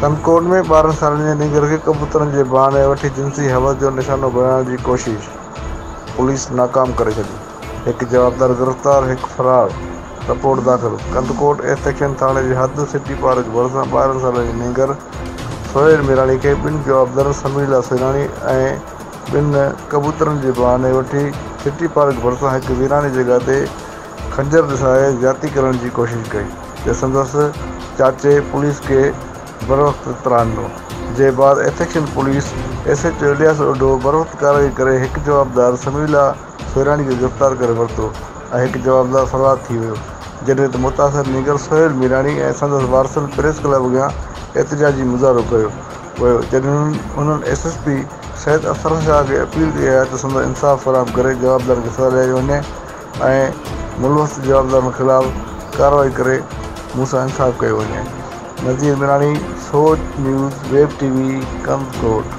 ڪنڪوڊ ۾ ٻارهن سالن جي نينگر کي ڪبوترن جي بهاني وٺي جنسي حوس جو نشانو بڻائڻ جي ڪوشش پوليس ناڪام ڪري ڇڏي، هڪ جوابدار گرفتار هڪ فرار، رپورٽ داخل ڪنڌڪوٽ ايسٽ ايڪشن ٿاڻي جي حد سٽي پارڪ ڀرسان ٻارهن سالن جي نينگر سهيل ميراڻي کي ٻن جوابدارن سمير الله سيراڻي ۽ ٻن ڪبوترن جي بهاني وٺي سٽي پارڪ ڀرسان هڪ ويراني جڳهه تي خنجر ڏسائي زيادتي ڪرڻ جي ڪوشش ڪئي ته سندس چاچي پوليس کي بروقت تران ڏنو جنهن بعد ايٿڪشن police S H O Ilyas Odho بروقت ڪارروائي ڪري هڪ جوابدار سميع الله سوئراڻي کي گرفتار ڪري ورتو ۽ هڪ جوابدار فرار ٿي ويو جڏهن ته متاثر نينگر سهيل ميراڻي ۽ سندس وارثن پريس ڪلب اڳيان احتجاجي مظاهرو ڪيو ويو جڏهن انهن S S P Syed Afsarulshah کي اپيل ڪئي آهي ته سندس انصاف فراهم ڪري جوابدارن کي سزا ڏياري وڃي. ۽ ملوث جوابدارن خلاف ڪارروائي ڪري مون سان انصاف ڪيو وڃي. Nazir Mirani Soch news web T V Kandhkot.